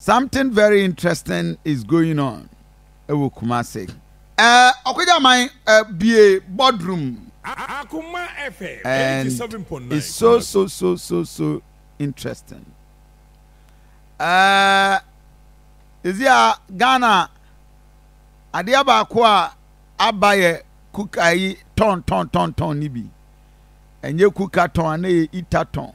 Something very interesting is going on ɛwɔ Kumasi. Ɛɛ Ɔkogyaman abue boardroom. Akoma FM eighty seven point nine Kumasi. And it's so so so so so interesting. Ɛɛ Sisi a Ghana adeɛ baako a aba yɛ kuka yi tɔn tɔn tɔn tɔn ne bi. Ɛnyɛ kuka tɔn a na yɛ ita tɔn.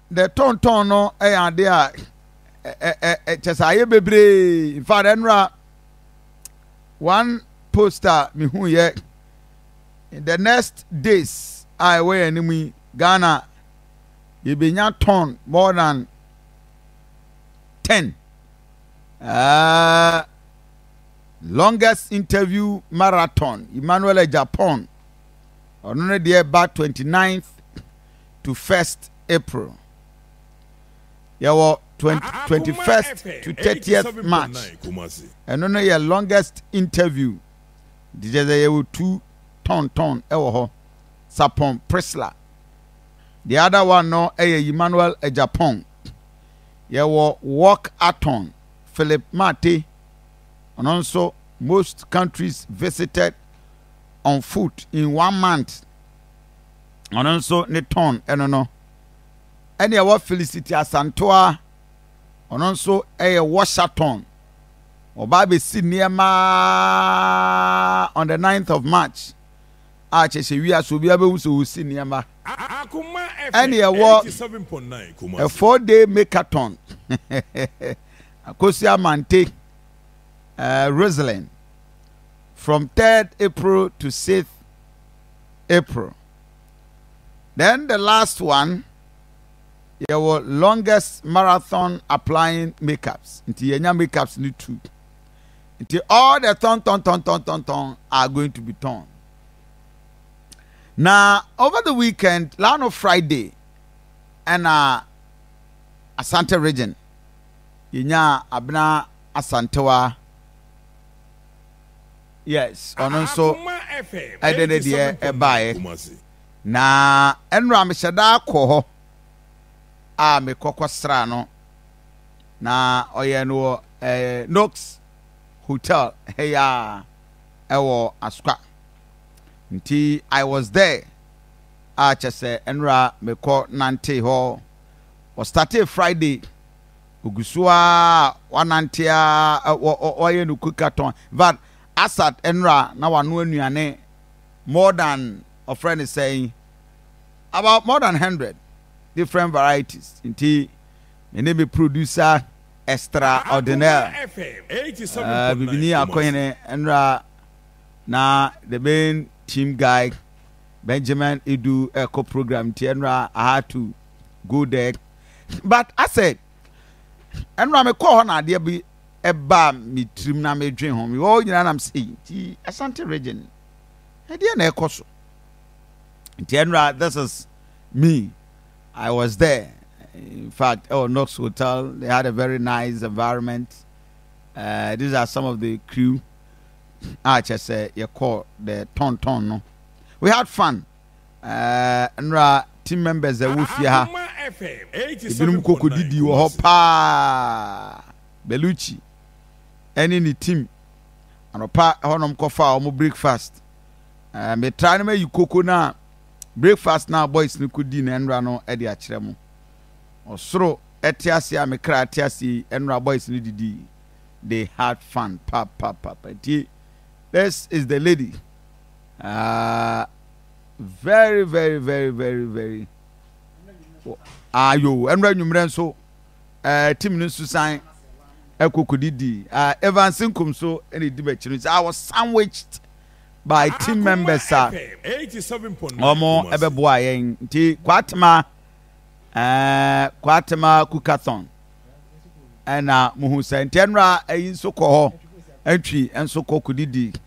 The tɔntɔn no yɛ ade a kyɛ sɛ ayɛ bebree in fact ɛnora one post a mehu yɛ in the next days a ɛwɔ yɛn anim yi ghana yɛbɛnya tɔn more than ten uh, longest interview marathon emmanuel japan ɔno no deɛ ba twenty ninth to first April. Yɛwɔ twenty first to thirtieth March. Ɛno no yɛ longest interview. Nti kyerɛ sɛ yɛwɔ two tɔntɔn wɔ hɔ. Sapon Prisla. The other one no ɛyɛ Emmanuel Agyapong. Yɛwɔ Walk Aton Philip Mate. Ɔno nso most countries visited on foot in one month. ɔno nso ne tɔn ɛno no ɛne ɛwɔ Filisiti Asantoa ɔno nso ɛyɛ Washington ɔbaa bɛsi nneɛma on the 9th of March a kyɛ sɛ wia so obiara bɛhu sɛ ɔsi nneɛma ɛne ɛwɔ a four day makeathon Akosi Amante uh, Rosalyn from 3rd April to 6th April. Then the last one yɛwɔ longest marathon applying makeups nti yɛnya makeups ne two nti all the tɔntɔntɔntɔntɔntɔn are going to be turned. Now over the weekend lano friday and uh, asante region yɛnya abena asantewa Yes, ɔno nso ɛdɛ ne deɛ ɛbaeɛ. Na ɛnora mehyɛ daa kɔ hɔ a mekɔkɔ sra no na ɔyɛ no wɔ eh, Nox Hotel heya ɛwɔ Askwa nti I was there a kyɛ sɛ ɛnora mekɔ nante hɔ ɔstate Friday ogu so ara a ɔanantse ara a ɔayɛ no quickathon. In fact, Asad nra na ɔanoa nnuane more than ɔfrɛ no sɛn, about more than hundred different varieties. Ntsi me ne me producer extraordinaire, eh, Bibinyi Akohene nra na the main team guy Benjamin Idu rekɔ program ntsi nra I had to go there. but asɛ ɛno a mekɔɔ hɔ na adeɛ bi ɛbaa me tirim na medwen ho mewɔ hɔ nyinaa nam sɛ ei nti Asante region ɛdeɛ na ɛkɔ so nti ɛno a this is me I was there in fact ɛwɔ Knox hotel they had a very nice environment uh, these are some of the crew a kyɛ sɛ yɛkɔɔ the tɔntɔn no we had fun Ɛɛ, nnora team members a ɛwɔ fie ha, ebinom koko didi wɔ hɔ paa. Belucci ɛne ne team anɔpa hɔnom kɔfa wɔn breakfast. Ɛɛ, metra no mayi koko no a breakfast no a boys no kodi no nnora no de akyerɛ mo. Ɔsoro ɛte ase a me kra ɛte ase yi, nnora boys no didi. They had fun, pa pa pa pa. Nti, this is the lady. Ah very very very very very ayo ah, ɛnura nwummerɛ nso eh, tim no nso san ɛkɔkɔdidi eh, ah, Evans Nkum so ɛna ɛdi bɛkyerɛ sɛ I was sandwiched by team members a wɔn ɛbɛboa yɛn nti kwatema ɛɛ eh, kwatema kukathon ɛna muhu sɛ nti ɛnura ɛyi nso kɔ hɔ ɛntwi nso kɔ kɔdidi.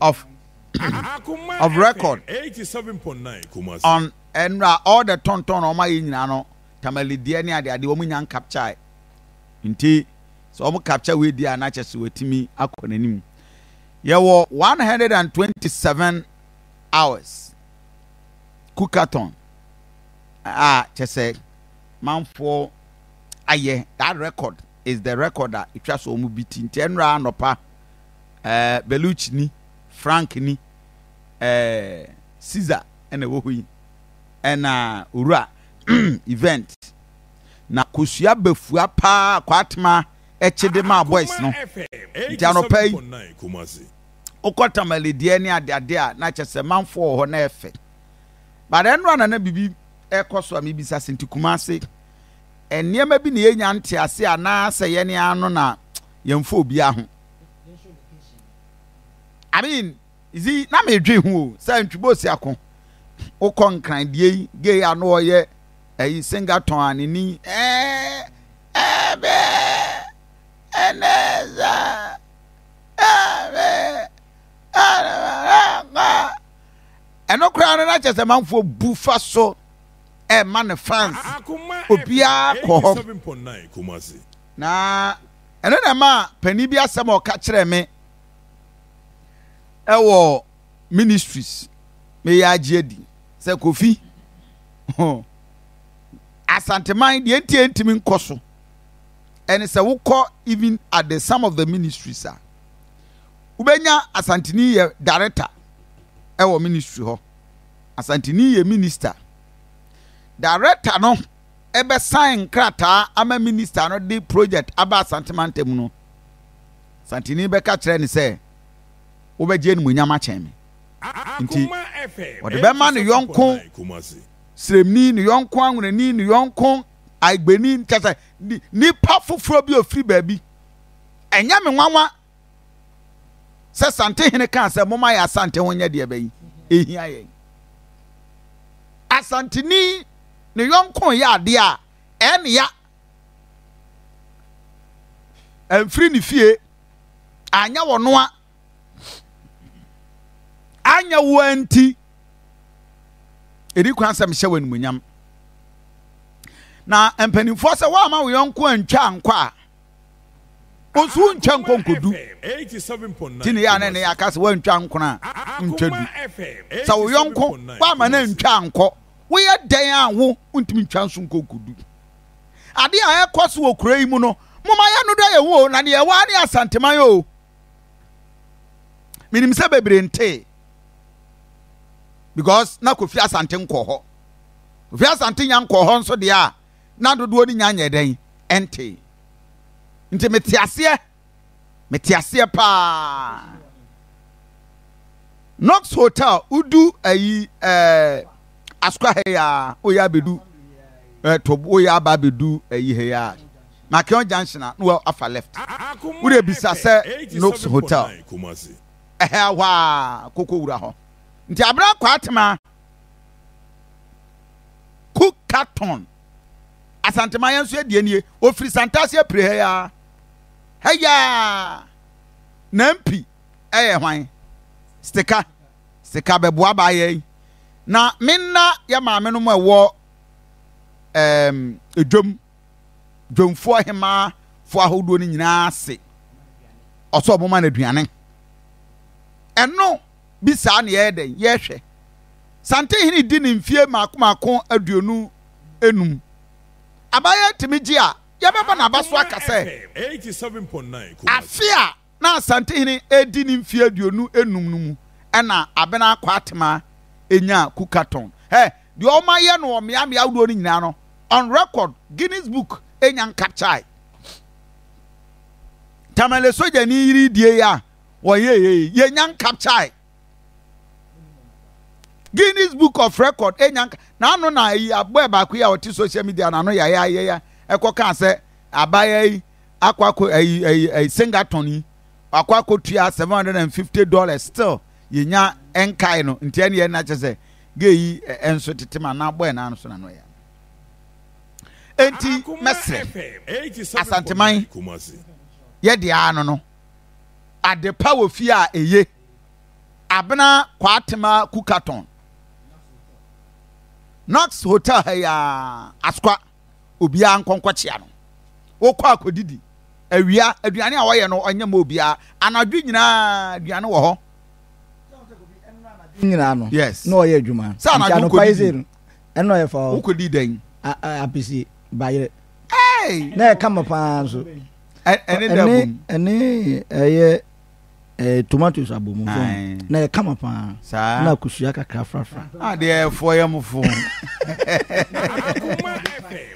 of of record on ɛnura all the tɔntɔn na wɔn ayɛ nyinaa no tamale deɛ ne ade ade wɔn nya nkapkyae nti sɛ wɔn kapkya wei deɛ a n'akyɛ so wɔatumi akɔ n'anim yɛwɔ one hundred and twenty seven hours kukaton a kyɛ sɛ manfoɔ ayɛ that record. is the record a etwa so wɔn bi ti nti ɛnora anɔpa ɛɛ Beluch ni Frank ni ɛɛ Caesar ɛna ɛwɔ hɔ yi ɛna owura event na kosua bafua paa kwatema ɛkyede maa boys no nti anɔpa yi wokɔ tamale deɛ ne adeade a na kyɛ sɛ manfo wɔ hɔ na ɛfɛ but ɛnora na na biribi ɛkɔ so a mebisa se nti kuma ase nneɛma bi na yɛnya ntease anaasɛ yɛn ara no na yɛmfa obiara ho. I mean, zi na medwe ho o sɛ ntwibosi ako wokɔ nkran die yi gay a no ɔyɛ ɛyi singaton a ne ni ɛɛ ɛbɛ ɛnɛza ɛbɛ ɛnɛza ɛno koraa no na kyɛ sɛ manfoɔ bu fa so ɛma ne fans obiara kɔ hɔ na ɛno na ɛma panin bi asɛm a ɔka kyerɛɛ me ɛwɔ ministries meyɛ agye adi sɛ kofi asanteman deɛ nti ɛntumi nkɔ so ɛne sɛ wokɔ even at the some of the ministries a wobɛnya asanteni yɛ director ɛwɔ ministry hɔ Asanteni yɛ minista. Darekta no bɛsan nkrataa ama minista no de projɛt aba Asante mantam no. Asanteni bɛka akyerɛ no sɛ, Wobɛgye animuonyam akyɛn me. Enti, ɔde bɛma ne yɔnko Siremni, ne yɔnko Anwonani, ne yɔnko Aigbeni, kyerɛ sɛ, nnipa foforɔ bi a ɔfiri baabi. Ɛnyɛ me nwanwa sɛ santehene kaa sɛ moma yɛ asante ho nyɛ deɛ bɛyi ɛhia yɛn asanteni ne yɔnko yɛ adeɛ a ɛne ya ɛmfiri ne fie anyɛ wɔnoa anyɛ woa nti ɛdi kwan sɛ mehyɛ wɔ animonyam na mpanimfoɔ sɛ woama wo yɔnko antwa ankɔ a nso wontwa nkɔ nkodu nti ne yɛ a na ɛne yɛaka sɛ woantwa nkon a wontwa du sɛ wo yɔnko woama no antwa nkɔ woyɛ dɛn a wo wontumi ntwa nso nkɔ nkodu ade a ɛkɔ so wɔ kura yi mu no moma yɛ no dɔ yɛ ho o na neɛ ɛwɔ ne asanteman o menim sɛ bebree ntee because na kofi asante nkɔ hɔ kofi asante nya nkɔ hɔ nso deɛ a na dodoɔ no nya nyɛɛ dɛn? Ɛntee. Nti mete aseɛ, mete aseɛ paa. Knox Hotel, wodu ayi ɛɛ eh, Asukwa ha yi a, woyɛ abɛdu ɛɛ eh, to woyɛ aba abɛdu ayi ha yi a, Makeon Junction a, na wafa left. Wode bisa sɛ Knox Hotel, ɛhɛ ahɔ a, kɔkɔ wura hɔ. Nti abena kwaatema. Ku Carton. Asantema yɛn nso yɛ deɛ nie. Ofiri Santase apire ha yaa. Ha yaa. Nampi ɛyɛ hwan? Stika. Stika bɛboa baa yɛn. Na me nna yɛ maame no mu ɛwɔ ɛɛm edwom. Dwomfoɔ hemaa foɔ ahodoɔ no nyinaa ase. Ɔsɛ ɔmo ma no aduane. Ɛno. bi saa na yɛyɛ dɛn? Yɛhwɛ. Santenhene di ne mfie mmaako mmaako aduonu nnum. Abaayewa tumi gye a, yɛbɛbɔ n'aba so aka sɛ, afe a na Asantehene redi ne mfie aduonu nnum no mu na Abena Akwaatema nyaa Kukatɔn. Hɛ, deɛ wɔayɛ no wɔ mmeammea ahodoɔ no nyinaa no, on record, Guinness Book nya nkapkyae. Tamale sogyani yere die yi a, wɔyɛ yei yɛnya nkapkyae guinness book of record ɛnya nka na ano na ayi abɔɛ baako yi a ɔte social media na ano yɛ ayɛ yɛ ɛkɔ kaa sɛ abaya yi akɔ akɔ ayi ayi ayi singaton yi akɔ akɔ tua seven hundred and fifty dollars still yɛnya nkae no nti ɛne yɛn na kyɛ sɛ gay yi ɛnso tete ma na abɔɛ na ano so na ano yɛ enti mɛsrɛ asanteman yɛ deɛ ano no. adepa wɔ fie a eye. Abena Kwatema Kukaton. Knox Hotel ha yi ara, Asokwa, obiara nkɔ nkɔkyea no. Wokɔ akɔdidi, awia, aduane a wɔyɛ no ɔnyɛ ma obiara. Anadwo nyinaa aduane wɔ hɔ. nyinaa no Yes. na ɔyɛ adwuma Sɛ anadwo nti anɔpa yi wokɔdidi. sei no ɛna ɔyɛ fa hɔ Wokɔdi dɛn? a- a- apese bayerɛ Hey! na ɛka ma paa nso ɛne dɛ bom ɛne ɛyɛ ɛɛ tomatoes abomu so na yɛ kama paa saa na kusua kakra frafra a deɛ ɛfoɔ yɛ mo fo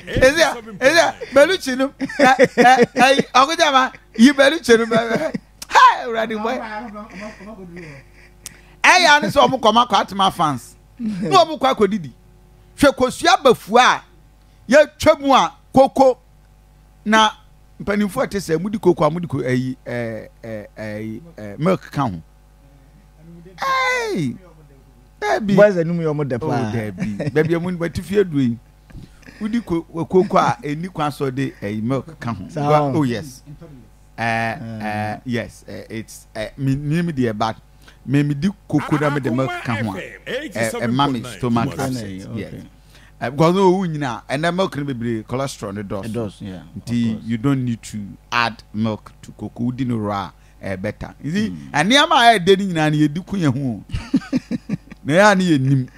ɛsɛ ɛsɛ bɛlukyi no ɛyi ɔkutɛ ma yi bɛlukyi no bɛ ha ɛwurade bɔ ɛyɛ ani sɛ ɔmo kɔm akɔ atoma fans na ɔmo kɔ akɔ didi hwɛ kosua bafua a yɛtwa mu a koko. na mpanimfoɔ ɛte sɛ mudi koko a mudi koko ɛyi ɛɛ ɛɛ ɛɛ milk ka ho ɛɛyi dɛbi boys ɛnum yɛ ɔmo dɛ oh, paa dɛbi bɛbi ɛmu bɛti fie duro yi wodi koko a ɛni kwan so de ɛyi milk ka ho oh yes ɛɛ ɛɛ yes ɛɛ it's ɛɛ mi mi deɛ but. Me me di koko na me de milk ka ho a ɛma me stomach upset yes because no owu nyina ɛnɛ milk no bebree cholesterol no dɔɔso nti you don't need to add milk to koko wodi no raw ɛɛ better nti nneɛma a ɛyɛ dɛ no nyinaa no yɛ di ko yɛn ho na yɛ a no yɛ nim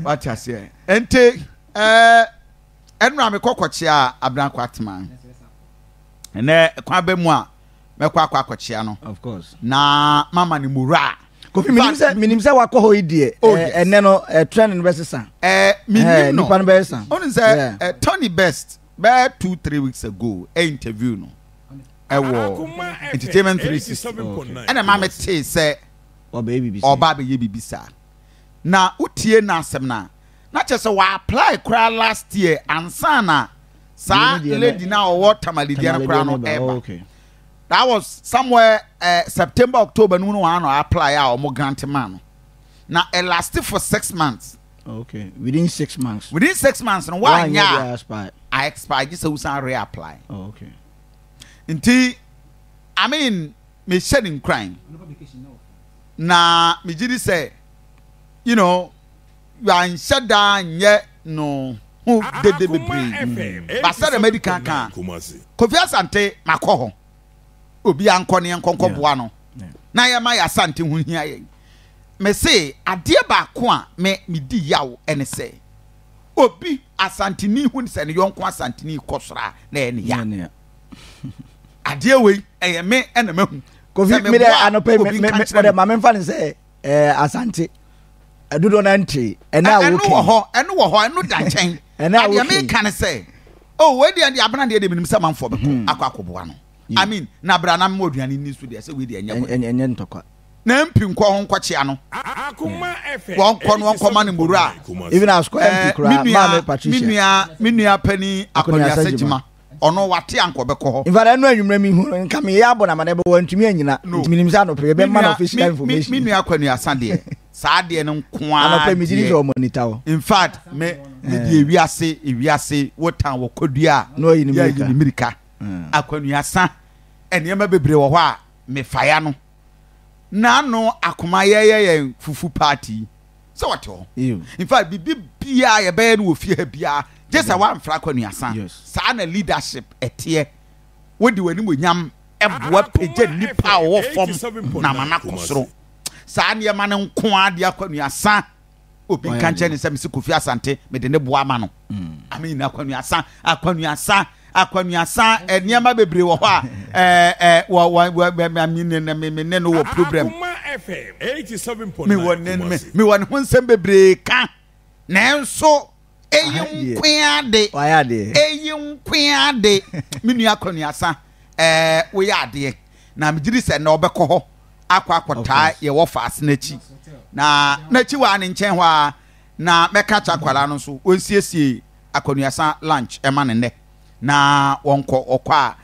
wate aseɛ nti ɛɛ ɛnura me kɔkɔkyea abiranko atema ɛnɛ kwan bɛ mu a mɛkɔ akɔ akɔkyea no na mama no muraa kofi menim sɛ menim sɛ wakɔ hɔ yi deɛ oh, ɛnɛ no trend no bɛsesa menim no nipa no bɛsesa ɔne sɛ tony best bɛɛ two three weeks ago ɛ interview no ɛwɔ entertainment three sixty ɛna maa mi tee sɛ ɔba abɛyɛ bibi saa na wotie n'asɛm na Na kyerɛ sɛ w'apply koraa last year ansa na saa lady no a ɔwɔ Tamale deɛ no koraa no ɛba. That was somewhere uh, September October no mu no wɔn ano apply a wɔn grant maa no. Na ɛ last for six months. Okay, within six months. Within six months no wanya a expire gye sɛ wosan reapply. Oh, okay. Nti I mean mehyɛ ne nkuran na megye di sɛ you know wanhyɛ da nyɛ no ho dede bebree mu. Ba sɛdeɛ madi kan kaa, Kofi Asante makɔ hɔ. Obiara nkɔ ne yɛnkɔ nkɔboa no na yɛma yɛ Asante ho hia yɛn. Mese adeɛ baako a me medi yaw ne sɛ obi Asanteni hu sɛ ne yɔnko Asanteni rekɔ soro a na ɛyɛ ne ya. Adeɛ wei ɛyɛ me na mahu. Kofi mede anɔpɛ mede ma memfa ne sɛ ɛɛ eh, asante ɛdodoɔ na ntee ɛnɛ a wokɛn ɛno wɔ hɔ ɛno wɔ hɔ ɛno da nkyɛn ɛnɛ a wokɛn adeɛ mi kan sɛ o oh, wei deɛ deɛ abena deɛ deɛ mi nim sɛ manfɔ bɛkɔ mhm. akɔ akɔboa no i mean na abira na mo aduane ni so deɛ sɛ wei deɛ ɛnyɛ bɔ ɛnyɛ ntɔkwa na mpi nkɔ ho nkɔkyea no wɔnkɔ no wɔnkɔma no mmuru a even asukɔ mp eh, koraa maame patricia me nua me nua panyin akɔniasa gyima Ɔno wate anka ɔbɛkɔ hɔ. Infact ɛno anwummerɛ mehu no nka meyɛ abɔ no amanneɛ but wantumi anyina No. nti menim sɛ anɔpa yi yɛbɛma no Me official nua me information. me nua Akwanuasa deɛ saa deɛ no nko ara Anɔpa yi megye di deɛ. sɛ ɔmo ani ta hɔ. In fact me me Eh. deɛ wiase ewiase wo tan wɔ kɔdua a Na wayi ne yɛayi mmirika. ne mmirika. Akwanuasa nneɛma bebree wɔ hɔ a mefaeɛ ano. na ano akoma yɛyɛ yɛn fufu party yi sɛ wɔte hɔ in fact biribi biara yɛbɛyɛ no wɔ fie ha biara gye sɛ wɔamfra akɔnuasa saa na leadership ɛteɛ wode w'animuonyam boa pagya nnipa a wɔwɔ fam na ama no akɔ soro saa nneɛma no nko ara de akɔnuasa obi nka nkyɛn ne sɛ mesi kofi asante mede ne boa ma no ame nyina akwanuasa akwanuasa akwanuasa nneɛma bebree wɔ hɔ a ɛɛ wɔ wɔ me ne no wɔ program mewɔ ne mewɔ ne ho nsɛm bebree ka nanso eyi nkoa de eyi nkoa de me nua akɔnuasa ɛɛ eh, woyɛ adeɛ na megye di sɛ na ɔbɛkɔ hɔ akɔ akɔtaa yɛ wɔ faase n'akyi na n'akyi wɔ a ne nkyɛn hɔ a na mɛka kyɛ akwadaa no nso wɔnsiesie akɔnuasa lunch ɛma ne nnɛ na wɔnkɔ ɔkɔ a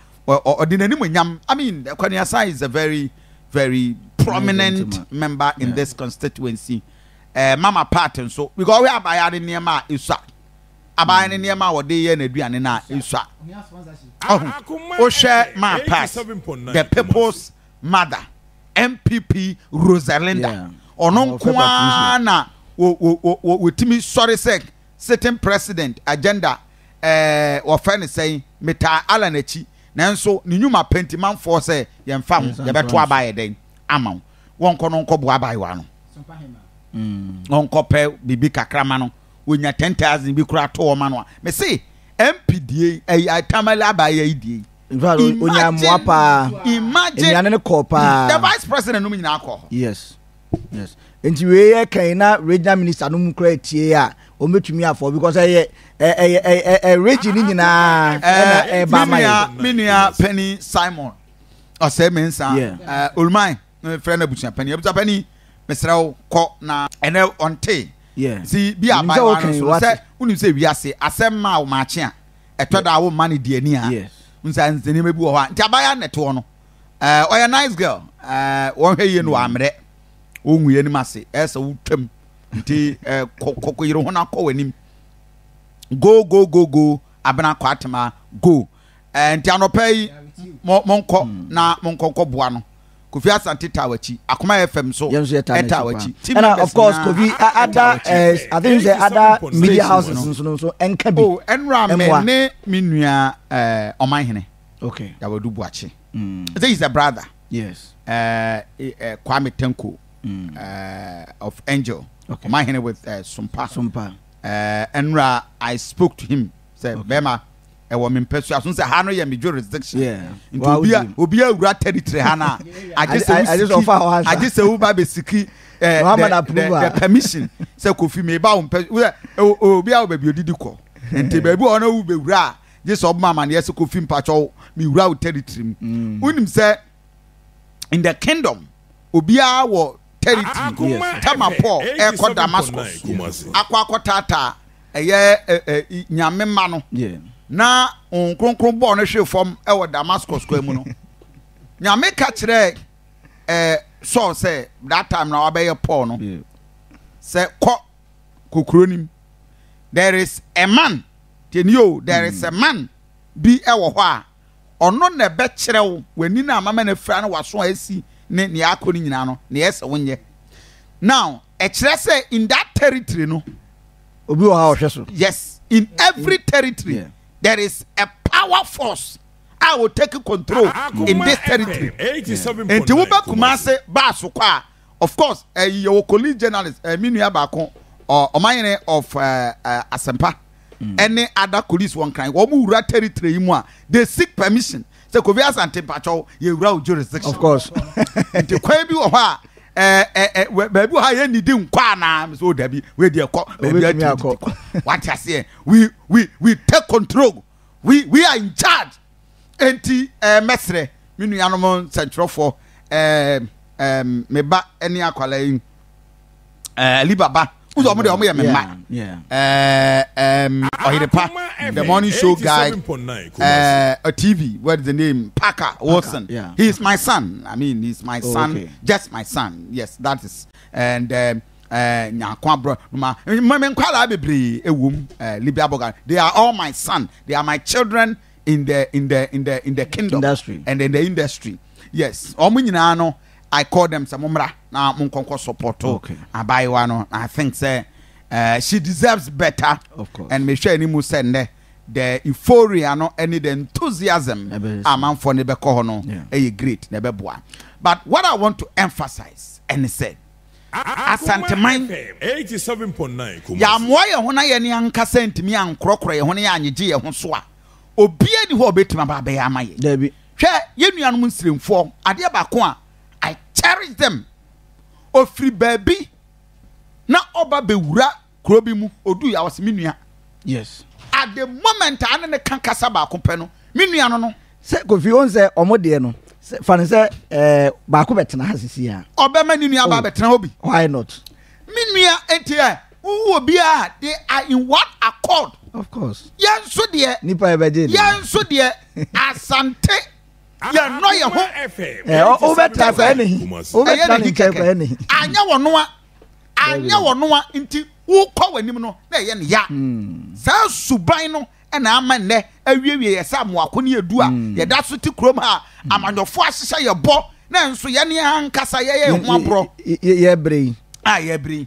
ɔde n'anim nyam i mean akɔnuasa is a very very prominent member in this constituency. Ɛɛ mama part nso because ɔhwɛ abaayewa no nneɛma a esua abaayewa no nneɛma a ɔde yɛ n'aduane no a esua ɔho wohwɛ ma part the people's mother npp rosalinda ɔno nko ara na wɔtumi sɔre sɛ sitting president agenda ɛɛ wɔfɛ ne sɛn metaa ala n'akyi nanso ne nnwuma pɛ nti manfoɔ sɛ yɛn fa ho yɛbɛto aba yɛ dɛn ama wo. wɔnkɔ no nkɔboa abaayewa no mm, ɔnkɔpɛ biribi kakra ma no wɔnya 10000 bi kora to ɔma no a mese mp die tamale abaayewa yi die onya mmoa paa nnuane no kɔɔ paa the vice president nom nyinaa kɔɔ yes yes nti wei yɛ kan na regional minister no mu kura tie a wɔn bɛtumi afɔ because ɛyɛ ɛyɛ ɛyɛ region no nyinaa ɛna ɛba ama yɛ. menua panyin simon ɔsɛe me nsa oluman frɛ no abusua panyin abusua panyin mesrɛ wo kɔ na ɛnɛ ɔnte si bi a bae wa no so sɛ wonim sɛ wiase asɛm ma wo maakye a ɛtɔ da a womma no di ani a nsa nneɛma bi wɔ hɔ a nti abaya na ɛtoɔ no ɔyɛ nice girl wɔhwɛ yie no wɔammerɛ wɔngu yɛ anim ase ɛsɛ wotwam nti kɔkɔ yere ho no akɔ w'anim go go go go abena kɔ atema go Ɛɛ, nti anɔpa yi mo monkɔ hmm. na monkɔ nkɔ boa no. Kofi Asante taa wakyi. Akoma FM so ɛtaa wakyi. Ɛna of course Kofi ada eh, I think sɛ ada media houses nso nso ɛnka bi. Oh, ɛnura mɛ ne mi nua eh, ɔmanhene. Okay. Yawadu Buakye. Hmm. Say he's a brother. Yes. Uh, uh, Kwame Tenko mm. uh, of Angel. Okay. Ɔmanhene with uh, Sumpa. Sumpa. Uh, Enra, I spoke to him sɛ bɛrima ɛwɔ me mpɛsua so sɛ ha no yɛ me jurisdiction nti obi a obi awura territory ha no a agye sɛ wosiki agye sɛ woba bɛsiki the permission sɛ kofi me ba wo mpɛ obi a wo baabi odidi kɔ nti baabi ɔno wo bɛwura a gye sɛ ɔbɛma amaneɛ sɛ kofi mpakyɛw mewura wo territory mu mm. wonim sɛ in the kingdom obiara wɔ territory yes tama paul ɛkɔ damascus akɔ akɔtaataa ɛyɛ nyame ma no na wɔn kronkron bɔɔ no hwe fam ɛwɔ damascus kwan mu no nyame ka kyerɛ ɛɛ saul sɛ that time na wabɛyɛ paul no sɛ kɔ kokuro nim there is a man tɛnio there is a man bi ɛwɔ hɔ a Ɔno na ɛbɛkyerɛ wo w'ani no a mama no afira ne w'aso a asi ne nea akɔ no nyinaa no, nea ɛsɛ wonyɛ. Now, ɛkyerɛ sɛ in that territory no, obi wɔ hɔ a ɔhwɛ so. Yes, in every territory yeah. there is a power force a will take control in this territory. Nti wobɛ kuma ase baa so kɔ a Of course, eh, yɛwɔ colleague journalist, eh, me nua baako, uh, ɔmanyere of uh, uh, Asempa, mm. ɛne ada colleagues wɔn kran, wɔn wura territory mu a, they seek permission. Sɛ Kofi Asante Mpakyɛw, yɛwura wo jurisdiction. Of course. Nti kwan bi wɔ hɔ a, Eh, eh, eh, baabi ha yɛ nidi nkɔ anaa mesɛ o dabi wede ɛkɔ baabi atumi wate aseɛ we we we take control we we are in charge Enti eh, mɛsrɛ me nuanom nsɛnkyerɛwfoɔ eh, eh, me ba ne akwadaa yi eh, Aliba ba wosɛ ɔmo deɛ ɔmo yɛ me mma eh, eh, ɔyerepa the morning show guy eh, a TV what is the name Parker Wilson yeah. he is my son I mean he is my oh, son okay. just my son yes that is and eh, Eh, Nyakwa bro, ma, ma me nkwadaa bebree ewom, eh, Libya Bogan. They are all my son. They are my children in the, in the, in the, in the kingdom. Industry. And in the industry. Yes. Omo nyinaa no, I call them sɛ mommra na monkɔnkɔ support okay. abaayewa no. I think sɛ uh, she deserves better. Of course. And mehwɛ anim sɛ nnɛ the euphoria no ɛne the enthusiasm amanfoɔ no bɛkɔ hɔ no ɛyɛ great na ɛbɛboa. But what I want to emphasize ɛne sɛ Asanteman. Yɛammoa yɛn ho na yɛn ankasa antumi ankorɔkorɔ yɛn ho na yɛanyegye yɛn ho so a, obiara nni hɔ a obetumi aba abɛyɛ ama yɛn. Dabi. Hwɛ, yɛn nuanom nsiremfoɔ, adeɛ baako a I cherish them, ɔfiri baabi na ɔba bɛwura Kuro bi mu, ɔdui a ɔse me nua. Yes. At the moment a ne ne ka kasa baako pɛ no, me nua no no. Sɛ Kofi ɔn sɛ ɔmo deɛ no, fa no sɛ ɛɛ eh, baako bɛtena ha sisi a. Ɔbɛma ne nua ba oh, bɛtena hɔ bi. Why not? Me nua eti ɛ, wowu obiara, they are in one accord. Of course. Yɛn nso deɛ. Nipa yɛ bɛgye ni. Yɛn nso deɛ, asante. yɛn nɔ yɛ ho. ɛ ɔbɛtena kɔ ɛnihi ɔbɛtena ne nkyɛn kɔ ɛnihi. anyɛ wɔn noa. anyɛ wɔn a nti wokɔ wɔn anim no na ɛyɛ ne ya hmm. saa suban no ɛna ama nnɛ awiewie yɛ sɛ amoako ne edu a hmm. yɛda so te kurom ha hmm. amanyɔfo ahyehyɛ yɛ bɔ na nso yɛn ne ankasa yɛyɛ ho aborɔ yɛbrɛ yi a yɛbrɛ yi.